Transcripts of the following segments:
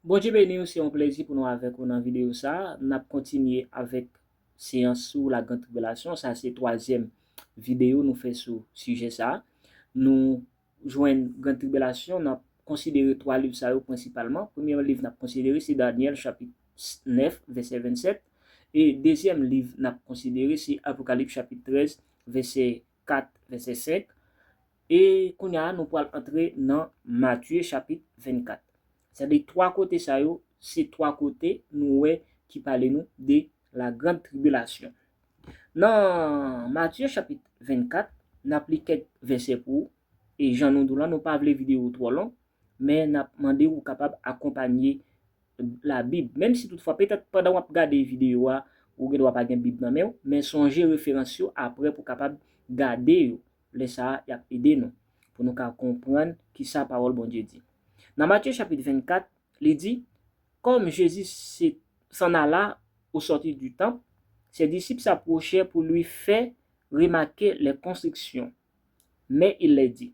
Bondye beniw se yon plezi pou nou avèk ou nan video sa, nap kontinye avèk seyans sou la grand tribilasyon sa se twazyèm video nou fè sou sijè sa, nou jwenn grand tribilasyon nan konsidere twa liv sa yo prensipalman, premye liv nap konsidere se Danyèl chapit 9 vèsè 27 e dezyèm liv nap konsidere se Apokalip chapit 13 vèsè 4 vèsè 5 e kounye a nou pral antre nan Matye chapit 24. Sa di 3 kote sa yo se 3 kote nou wè ki pale nou de la grand tribilasyon. Nan Matye chapit 24 n ap li kèk vèsè pou ou e jan nou di w lan nou pa vle videyo twò long Men n ap mande w ou kapab akonpanye la Bib. Menm si toutfwa, petèt pandan w ap gade videyo a, ou gen dwa pa gen Bib nan men w, men sonje referans yo apre pou w kapab gade yo. Lè sa a, y ap ede nou pou nou ka konprann ki sa Pawòl Bondye di. Nan Matye chapit 24, li di, Kòm Jezi se s'en alla au sortir du temple, ses disciples s'approchèrent pour lui faire remarquer les constructions. Mais il leur dit.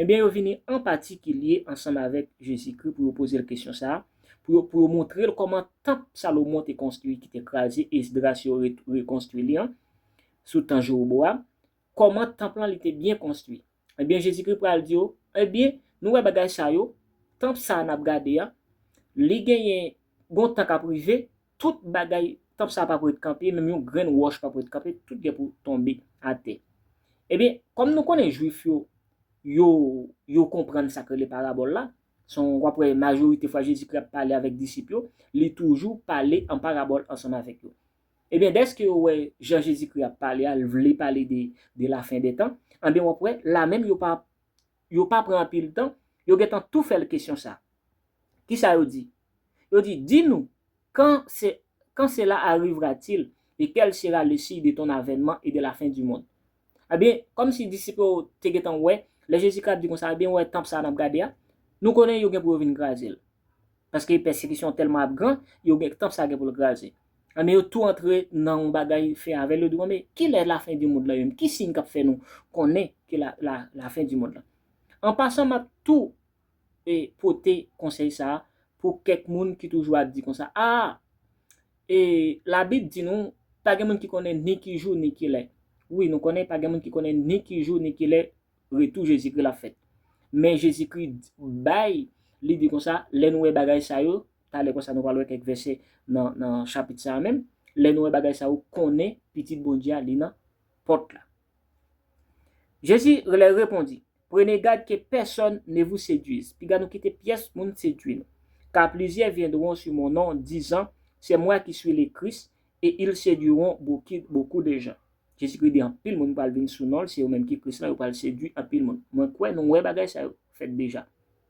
Enben, yo vini an patikilye ansanm avèk Jezikri pou yo poze l kesyon sa a, pou yo pou yo montre l kòman tanp Salomon te konstwi ki te kraze, Esdras yo re rekonstwi li an sou tan Jewobowam, kòman tanp lan li te byen konstwi. Enben, Jezikri pral di yo, Enben, nou wè bagay sa yo, tanp sa a n ap gade a, li genyen gen yon tan k ap rive, Tout bagay, tanp sa a pap ret kanpe, menm yon grenn wòch pap ret kanpe, tout gen pou tonbe atè. Ebyen, kòm nou konnen Jwif yo, yo, yo konprann sa k rele parabòl la, se yon, w ap wè majorite fwa Jezikri ap pale avèk disip yo, li toujou pale an parabòl ansanm avèk yo. Ebyen, dèske yo wè jan Jezikri ap pale a, l vle pale de, de lafendètan, anben w ap wè, lamenm yo pa, yo pa pran anpil tan, yo gentan tou fè l kesyon sa. Kisa yo di? Yo di, Di nou, Quand ce, quand cela arrivera-t-il, et quel sera le signe de ton avènement et de la fin du monde? Ebyen, kòm si disip yo te gentan wè, lè Jezi Kra ap di konsa, Ebyen, ou wè tanp sa a n ap gade a? Nou konnen yo gen pou yo vin kraze l. Paske pèsekisyon an tèlman ap gran, yo gen, tanp sa a gen pou l kraze. Ebyen yo tou antre nan yon bagay fè avè l, yo di bon men kilè lafen di mond lan ye menm, ki siy kap fè nou konnen ke lafen di mond lan. An pasan map tou pote konsèy sa pou kèk moun ki toujou ap di konsa aa e labib di nou pa gen moun ki konnen ni ki jou ni kilè, wi nou konnen pa gen moun ki konnen ni ki jou ni kilè retou Jezikri la fèt men Jezikri bay li di konsa lè nou wè bagay sa yo Talè konsa nou pral wè kèk vèsè nan chapit sa a menm. Lè nou wè bagay sa yo, konnen Pitit Bondye a li nan pòt la. Jezi lè repondi, Prene gad ke pèsòn ne vou seduiz. Piga nou kite pyès moun sedui nou. Ka plizyè vyendron su mon non, dizan, Se mwa ki sui le Kris, e il seduiron bokou de jan. Jezikri di anpil moun pral vin sou non l, se yo menm ki Kris lan, yo pral sedui anpil moun. Mwen kwè nou wè bagay sa yo fèt deja.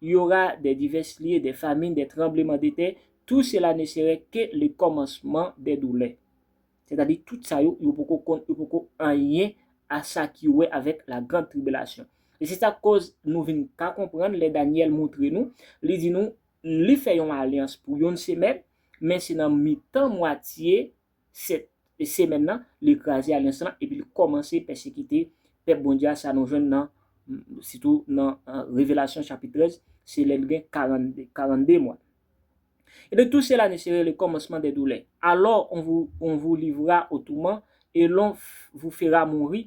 Il y aura des divers lieux, des famines, des tremblements de terre, tout cela ne serait que le commencement des douleurs. Sètadi tout sa yo, yo poko konn, yo poko anyen a sa ki wè avèk la grande tribulation. E se sa k koz nou vin ka konprann lè Danyèl moutre nou, li di nou, li fè yon alyans pou yon semèn, men se nan mitan mwatye 7 semèn nan, li kraze alyans lan epi li kòmanse pèsekite pèp Bondye a, sa nou jwenn nan sitou nan Revelasyon chapit 13, se lè li gen 42 mwa. E de tous ces la nuit serait le commencement des douleurs, alors on vous livrera au tourment et l'on vous fera mourir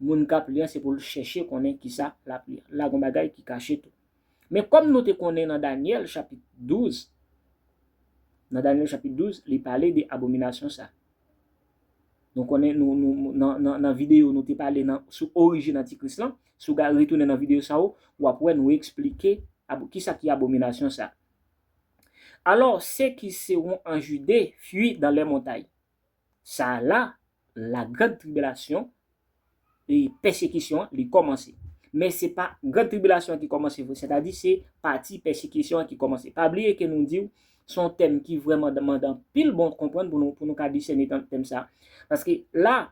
Moun k ap li an se pou l chèche konnen ki sa l ap li an. La gen yon bagay ki kache tou. Men kòm nou te konnen nan Dànyèl chapit 12, nan Dànyèl chapit 12, li pale de abominasyon sa a. Nou konnen, nan videyo nou te pale sou orijin antikris lan, si w ga retounen nan videyo sa yo, w ap wè nou eksplike ki sa ki abominasyon sa a. Alò, se ki sewon an Jide fui dan lè montay. Sa a la, la grande tribulation, e pèsekisyon an, li kòmanse. Men se pa grande tribulation an ki kòmanse vre, sètadi se pati pèsekisyon an ki kòmanse. Pa bliye ke nou di w, se yon tèm ki vrèman mande anpil bon konprann pou nou, pou nou ka disène nan tèm sa a. Paske la,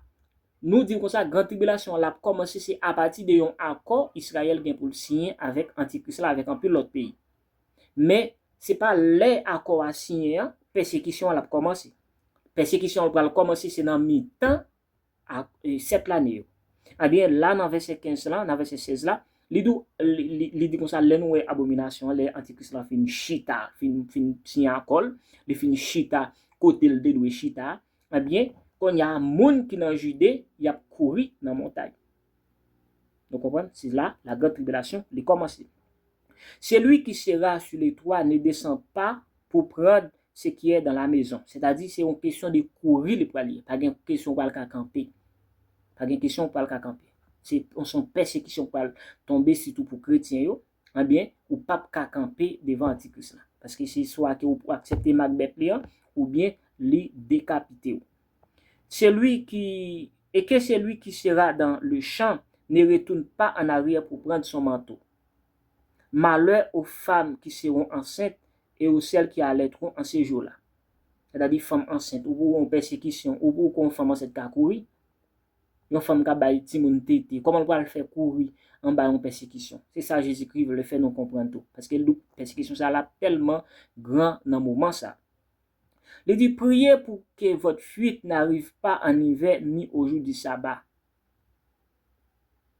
nou di w konsa, grande tribulation an, l ap kòmanse se apati de yon akò Israël gen pou l siyen avèk antikris la, avèk anpil lòt peyi. Men, se pa lè akò a siyen an, pèsekisyon an l ap kòmanse. Pèsekisyon an pral kòmanse se nan mitan sèt lane yo. Ebyen, la nan vèsè 15 la, nan vèsè 16 la, li di w, li di konsa, lè nou wè abominasyon an, lè antikris lan fin chita, fin siyen akò l, li fin chita kote l te dwe chita a, ebyen, kounye a, moun ki nan Jide, y ap kouri nan montay. Nou konprann? Se la la grande tribulation li komanse. Celui qui sera sur le toit ne descend pas pour prendre ce qui est dans la maison. Sètadi se yon kesyon de kouri li pral ye. Pa gen kesyon ou pral ka kanpe. Pa gen kesyon ou pral ka kanpe. Se yon pèsekisyon k pral tonbe sitou pou kretyen yo. Ebyen, ou pap ka kanpe devan antikris la. Paske se swa ke ou aksepte mak bèt li an, oubyen li dekapite ou. Celui qui, et que celui qui sera dans le champ ne retourne pas en arrière pour prendre son manteau. Malheur aux femmes qui seront enceintes et aux celles qui allaiteront en ce jour-là. Sètadi fanm ansent, ou pou wè yon pèsekisyon, ou pou wè yon fanm ansent ka kouri. yon fanm ka bay timoun tete, kòman l pral fè kouri anba yon pèsekisyon? Se sa Jezikri vle fè nou konprann tou, paske l di pèsekisyon sa a ap tèlman gran nan moman sa a. Li di, Priye pou ke vòt fuit n'arrive pas en hiver ni au jour du sabbat,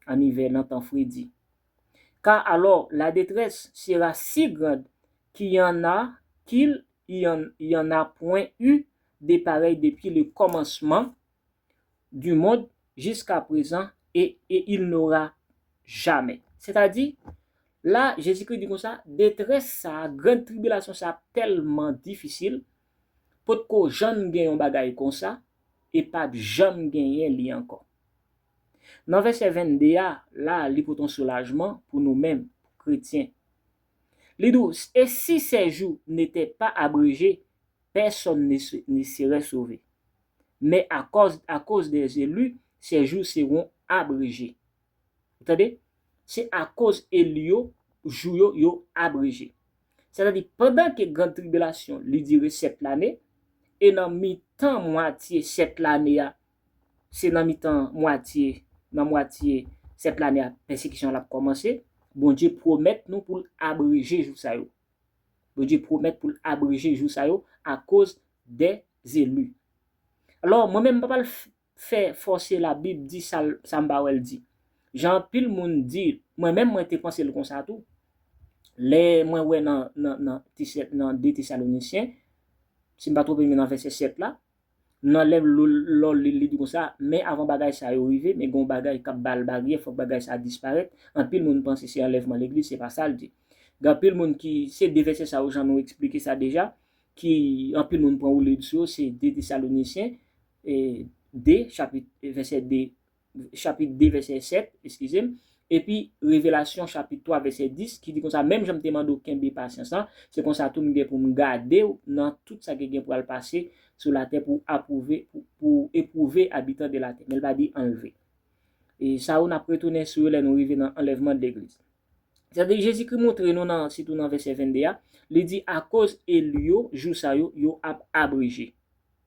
en hiver, nan tan fredi, car alors la détresse sera si grande qu'il y en a qu'il y en a point eu de pareil depuis le commencement du monde jiska prezan e e il n'aura jamais. Sètadi, la, Jezikri di konsa, detrès sa a, gran tribilasyon sa a tèlman difisil, potko jann gen yon bagay konsa, e pa p janm genyen li ankò. Nan vèsè 22 a, la, li pote yon soulajman pou nou menm, pou kretyen. Li di w, E si sè jou n'était pas abrégé, personne ne se ne serait sauvé. men akòz akoz des élus ces jours seront abrégés ou tande se akoz eli yo jou yo yo abreje sètadi pandan ke grand tribilasyon li dire 7 lane e nan mitan mwatye 7 lane a se nan mitan mwatye nan mwatye 7 lane a pèsekisyon an ap kòmanse Bondye pwomèt nou pou l abreje jou sa yo. Bondye pwomèt pou l abreje jou sa yo akoz dè zelu. Alò, mwen menm m pa pral fè fòse Labib di sa l sa m pa wè l di. Jan anpil moun di, mwen menm mwen te panse l konsa tou. Lè mwen wè nan nan nan nan 2 Tesalonisyen, si m pa twonpe m nan vèsè 7 la, Nan lèv lò li li di konsa, men avan bagay sa yo rive, men gen yon bagay k'ap ba l baryè, fòk bagay sa disparèt, anpil moun panse se anlèvman legliz, se pa sa l di. Gen anpil moun ki, se 2 vèsè sa yo jan nou eksplike sa deja, ki anpil moun pran woulib sou yo, se 2 Tesalonisyen, 2, chapit, vèsè 2, chapit 2 vèsè 7, eskize m, epi Revelasyon chapit 3 vèsè 10 ki di konsa, menm jan m te mande w kenbe pasyans lan, se konsa tou m gen pou m gade w nan tout sa ki gen pou al pase sou latè pou apwouve, pou w epwouve abitan de latè. Men l pa di anlve. E sa yo n ap retounen sou yo lè nou rive nan anlèvman de legliz. Sèke Jezikri montre nou nan, sitou nan vèsè 22 a, li di akoz eli yo, jou sa yo, yo ap abreje.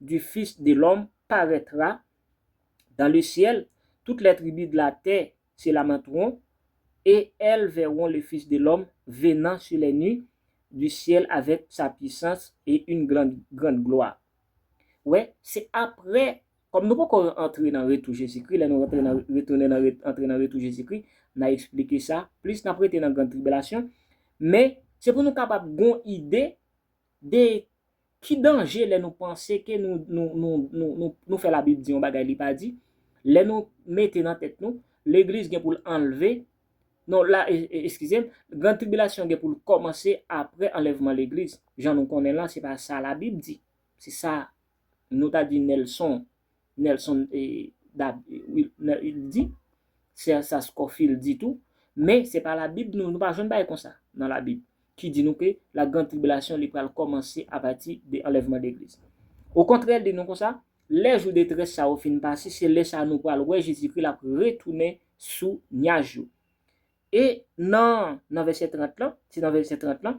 du Fils de l'homme paraîtra dans le ciel, toutes les tribus de la terre se lamenteront, et elles verront le Fils de l'homme venant sur les nues du ciel avec sa puissance et une grande gloire. Wè, se apre, kòm nou poko antre nan retou Jezikri, lè nou rantre nan, retounen nan, antre nan retou Jezikri, n'a esplike sa plis, n'ap rete nan grand tribilasyon, men, se pou nou kapab gon ide de Ki danje lè nou panse ke nou fè Labib di yon bagay li pa di, lè nou mete nan tèt nou, Legliz gen pou l anlve, non, eskize m, Gran Tribilasyon gen pou l kòmanse apre anlèvman Legliz, jan nou konnen l lan, se pa sa Labib di, se sa nou ta di Nelson Nelson di, sè sa Scofield di tou, men se pa labib nou, nou pa jwenn bagay konsa nan labib ki di nou ke la grand tribilasyon li pral kòmanse apati de anlèvman legliz. Okontrè li di nou konsa, lè jou detrès sa yo fin pase se lè sa nou pral wè Jezikri lap retounen sou nyaj yo. E nan nan vèsè 30 lan, se nan vèsè 30 lan,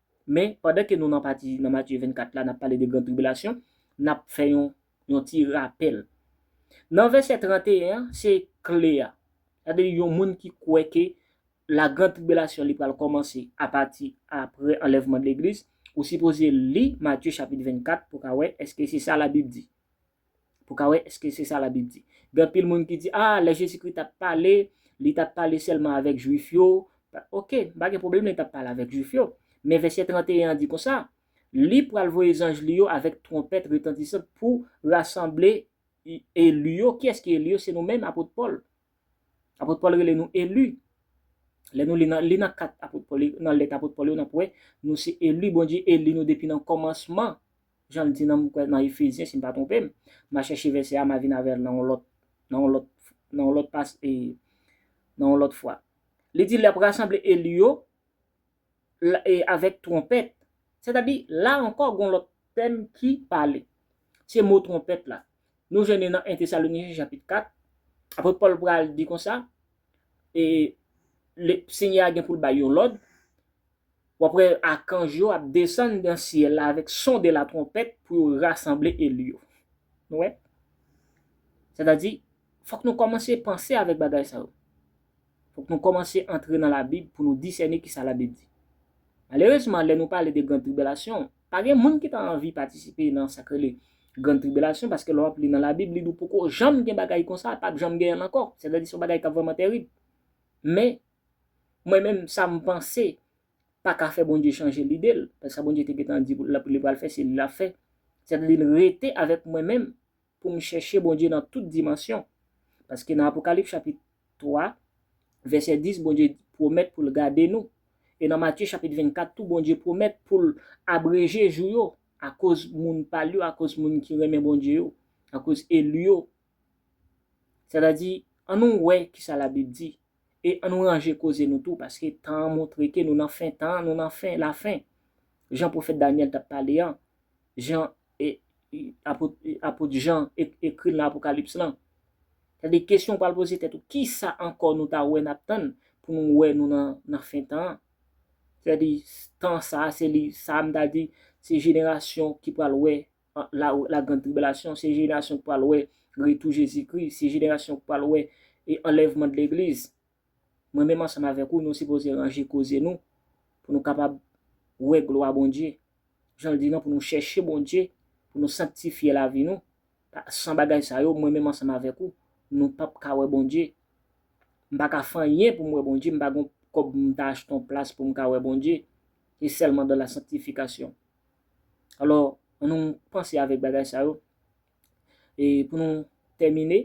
Men, pandan ke nou nan pati, nan Matye 24 la, n ap pale de gran tribilasyon, n ap fè yon, yon ti rapèl. Nan vèsè 31 an, se kle a. Sa vle di yon moun ki kwè ke la gran tribilasyon li pral kòmanse apati apre anlèvman de legliz, ou sipoze li Matye chapit 24 pou w ka wè èske se sa labib di. pou w ka wè èske se sa Labib di. Gen anpil moun ki di, a, lè Jezikri t ap pale, li t ap pale sèlman avèk Juif yo. Oke, m pa gen pwoblèm lè l t ap pale avèk Juif yo. Men vèsè 31 an di konsa, Li pral voye zanj li yo avèk twonpèt retantisan pou rasanble eli yo. Kiyès ki eli yo? Se nou menm, apot Pòl. Apot Pòl rele nou eli. Lè nou li nan li nan kat apot Pòl yo, nan lèt apot Pòl yo, n ap wè nou se eli Bondye eli nou depi nan kòmansman. jan l di nan m kwè nan Efezyen si m pa twonpe m, m a chèche vèsè a m a vin avè l nan yon lòt nan yon lòt nan yon lòt pas e nan yon lòt fwa. Li di l ap rasanble eli yo l e avèk twonpèt. Sètadi, la ankò gen yon lòt tèm ki pale. Se mo twonpèt la. Nou jwenn li nan 1 Tesalonijen chapit 4. Apot Pòl pral di konsa, e le Senyè a gen pou l bay yon lòd, W ap wè akanj yo ap desann nan syèl la avèk son de latwonpèt pou yo rasanble eli yo. Nou wè? Sètadi, fòk nou kòmanse panse avèk bagay sa yo. Fòk nou kòmanse antre nan Labib pou nou disène ki sa Labib di. Malerezman, lè nou pale de Grann Tribilasyon, pa gen moun ki ta anvi patisipe nan sa k rele Grann Tribilasyon paske lè w ap li nan Labib, li di w poko janm gen bagay konsa, pa p janm genyen l ankò. Sètadi, se yon bagay k ap vrèman tèrib. Men, Mwen menm sa m panse pa ka fè Bondye chanje lide l, paske sa Bondye te gentan di li pral fè se li l ap fè. Sètadi l rete avèk mwen menm pou m chèche Bondye nan tout dimansyon. Paske nan Apokalips chapit 3 vèsè 10 Bondye pwomèt pou l gade nou. E nan Matye chapit 24 tou Bondye pwomèt pou l abreje jou yo akoz moun pa l yo, akoz moun ki renmen Bondye yo, akoz eli yo. Sètadi annou wè kisa Labib di E an nou ranje koze nou tou paske tan an montre ke nou nan fen tan, nou nan fen lafen. Jan pwofèt Danyèl t ap pale an, jan apot Jan ekri l nan Apokalips lan. Sètadi kesyon ou pral poze tèt ou, kisa ankò nou ta wè n ap tann pou nou wè nou nan fen tan an? Sètadi tan sa a se li, sa a m ta di se jenerasyon ki pral wè la grande tribulation, se jenerasyon ki pral wè retou Jezi Kri, se jenerasyon ki pral wè anlèvman de legliz. Mwen menm ansanm avèk ou nou sipoze ranje koze nou pou nou kapab wè glwa Bondye. Jan l di nan pou nou chèche Bondye, pou nou sanktifye lavi nou, san bagay sa yo mwen menm ansanm avèk ou nou pap ka wè Bondye. M pa ka fè anyen pou m wè Bondye, m pa gen yon kòb pou m ta achte yon plas pou m ka wè Bondye, se sèlman dan la sanktifikasyon. Alò, an nou panse avèk bagay sa yo. E pou nou tèmine,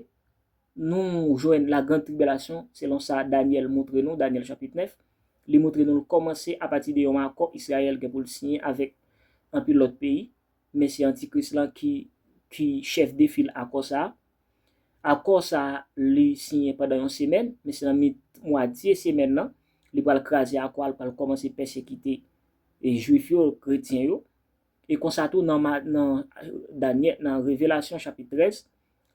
nou jwenn lagrand tribilasyon selon sa Danyèl moutre nou, Danyèl chapit 9, li moutre nou l kòmanse apati de yon akò Israël gen pou l siyen avèk anpil lòt peyi, men se Antikris lan ki ki chèf de fil akò sa a. Akò sa a li siyen pandan yon semèn, men se nan mit mwa dye semèn lan, li pral kraze akò a, l pral kòmanse pèsekite e Jwif yo, kretyen yo, e konsa tou nan ma, nan Danyè, nan Revelasyon chapit 13,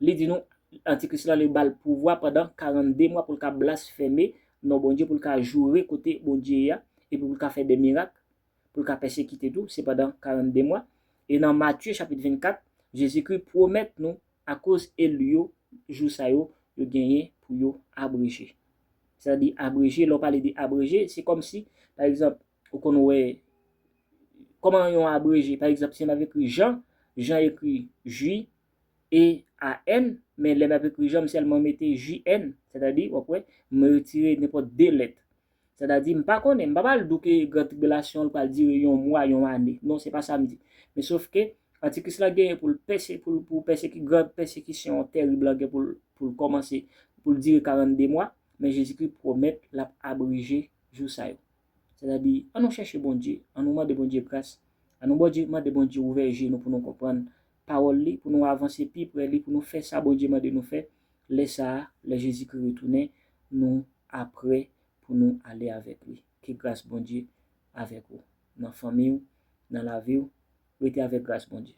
li di nou Antikris la li ba l pouvwa pandan 42 mwa pou l ka blasfeme non Bondye, pou l ka joure kote Bondye ye a, epi pou l ka fè de mirak, pou l ka pèsekite tou, se pandan 42 mwa. E nan Matye chapit 24, Jezikri pwomèt nou Akoz elu yo, jou sa yo, yo genyen pou yo abreje. Sa di abreje, lè w pale de abreje, se kòm si, pa egzanp, ou konn wè, kòman yon abreje, pa egzanp, si m ap ekri Jean, Jean ekri JEAN, men lè m ap ekri Jean, m sèlman mete JN, sètadi, w ap wè, m retire nenpòt 2 lèt. Sètadi, m pa konnen, m pa pral di w ke gran tribilasyon an pral dire yon mwa, yon ane. Non, se pa sa m di. Men sofke, Antikris lan genyen pou l pèse, pou l, pou l pèseki, gran pèsekisyon an terib lan gen pou l, pou l kòmanse, pou l dire karannde mwa, men Jezikri pwomèt l ap abreje jou sa yo. Sètadi, an nou chèche Bondye, an nou mande Bondye gras, an nou Bondye, mande Bondye ouvè je nou pou nou konprann Pawòl Li, pou nou avanse pi pre Li, pou nou fè sa Bondye mande nou fè, Lè sa a, lè Jezikri retounen, nou apre pou nou ale avèk li. Ke gras Bondye avèk ou, nan fanmi ou, nan lavi ou, rete avèk gras Bondye.